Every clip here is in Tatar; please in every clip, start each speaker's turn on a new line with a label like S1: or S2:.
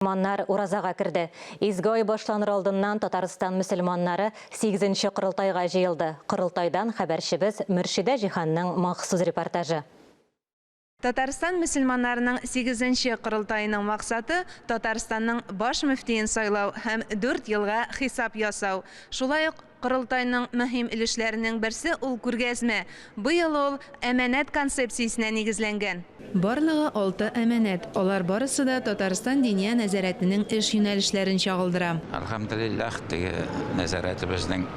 S1: Мусульманнар уразага керде. Изге ай башланыр алдыннан Татарстан мөселманнары сигезенче корылтайга җыелды. Корылтайдан хәбәрчебез Мөршидә Җиһанның махсус репортажы.
S2: Татарстан мөселманнарының сигезенче корылтаеның максаты, Татарстанның баш мөфтиен сайлау һәм дүрт елга хисап ясау, шулай ук, Корылтайның мөһим өлешләренең берсе ул күргәзмә. Быел ул Әманәт концепциясенә нигезләнгән. Барлыгы алты әманәт. Алар барысы да Татарстан Диния нәзарәтенең эш юнәлешләрен чагылдыра. Әлхәмдулиллаһ,
S3: теге нәзарәтебезнең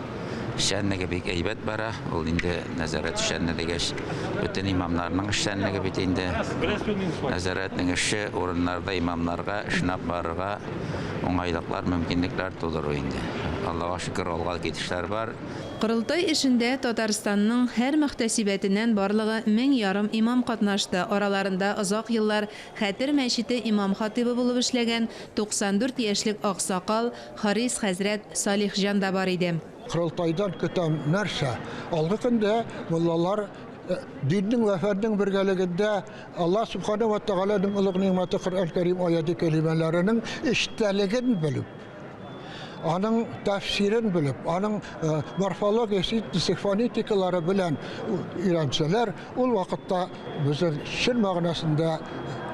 S3: эшчәнлеге бик әйбәт бара. Ул инде нәзарәт эшчәнлеге дигәч, бөтен имамнарның эшчәнлеге бит инде. Нәзарәтнең эше, урыннарда имамнарга, эшне алып барырга. уңайлыклар, мөмкинлекләр тудыру инде. Аллага шөкер, алга китешләр бар. Корылтай эшендә
S2: Татарстанның һәр мөхтәсибәтеннән барлыгы мең ярым имам катнашты, араларында озак еллар Хәтер мәчете имам-хатыйбы булып эшләгән 94 яшьлек аксакал Харис хәзрәт Салихҗан да бар иде. Корылтайдан көтәм
S4: нәрсә? Алгы көндә муллалар диннең вә фәннең бергәлегендә Аллаһ Субхана ва Тәгаләнең олуг нигъмәте Коръән Кәрим аяте кәлимәләренең эчтәлеген белеп, аның тәфсирен белеп, аның э, морфология, синтез, фонетикалары белән өйрәнсәләр, ул вакытта безнең чын мәгънәсендә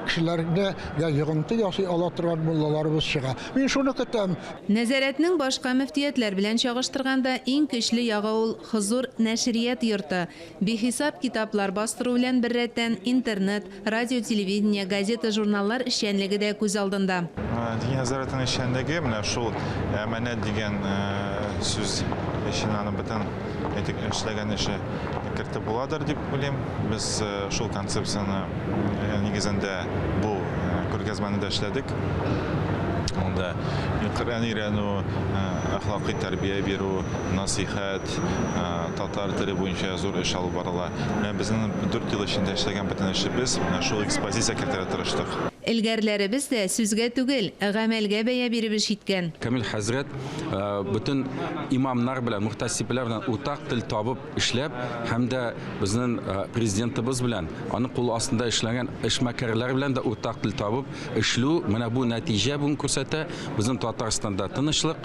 S4: кешеләрне я йогынты ясый ала торган муллаларыбыз чыга. Мин шуны көтәм. Нәзарәтнең
S2: башка мөфтиятләр белән чагыштырганда иң көчле ягы ул Хозур нәшрият йорты. Бихисап китаплар бастыру белән беррәттән, интернет, радио-телевидение, газета-журналлар эшчәнлеге дә күз алдында. Дини нәзарәтнең
S5: эшчәнлеге менә шул әманәт дигән сүз эченә аның бөтен әйтик эшләгән эше кертеп буладыр дип уйлыйм. Без шул концепцияне нигезендә бу күргәзмәне дә эшләдек. Анда Коръән өйрәнү, әхлакый тәрбия бирү, насыйхәт, бит, татар теле буенча зур эш алып барыла. Менә безнең дүрт ел эчендә эшләгән бөтен эшебез менә шул экспозиция кертергә тырыштык. Элгәрләребез
S2: дә сүзгә түгел, гамәлгә бәя биреп эш иткән. Камил хәзрәт
S6: бөтен имамнар белән, мөхтәсибләр белән уртак тел табып эшләп һәм дә безнең Президентыбыз белән, аның кулы астында эшләгән эшмәкәрләр белән дә уртак тел табып эшлү, менә бу нәтиҗә бүген күрсәтә, безнең Татарстанда тынычлык,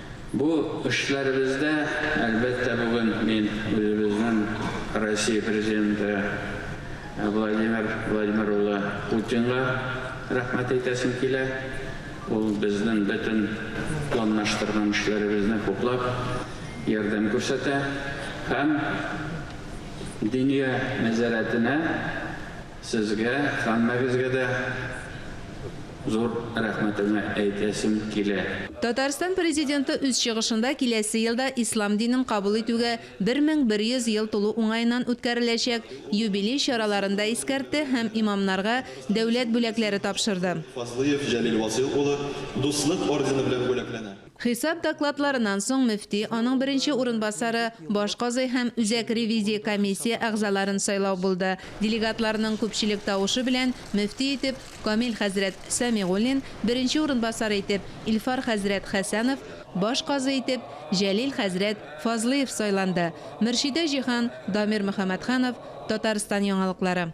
S7: Бу эшләребездә, әлбәттә, бүген мин үзебезнең Россия Президенты Владимир Владимир улы Путинга рәхмәт әйтәсем килә. Ул безнең бөтен планлаштырган эшләребезне хуплап, ярдәм күрсәтә һәм Диния нәзарәтенә, Сезгә һәммәгезгә дә зур рәхмәтемне әйтәсем килә. Татарстан
S2: Президенты үз чыгышында киләсе елда ислам динен кабул итүгә 1100 ел тулу уңаеннан үткәреләчәк юбилей чараларын да искәртте һәм имамнарга дәүләт бүләкләре тапшырды. Фазлыев Җәлил
S8: Васыйл улы Дуслык ордены белән бүләкләнә. Хисап докладларыннан
S2: соң мөфти, аның беренче урынбасары, баш казый һәм Үзәк ревизия комиссия әгъзаларын сайлау булды. Делегатларның күпчелек тавышы белән мөфти итеп Камил хәзрәт Сәмигуллин, беренче урынбасар итеп Илфар хәзрәт Хәсәнов, баш казый итеп Җәлил хәзрәт Фазлыев сайланды. Мөршидә Җиһан, Дамир Мөхәммәтханов, Татарстан яңалыклары.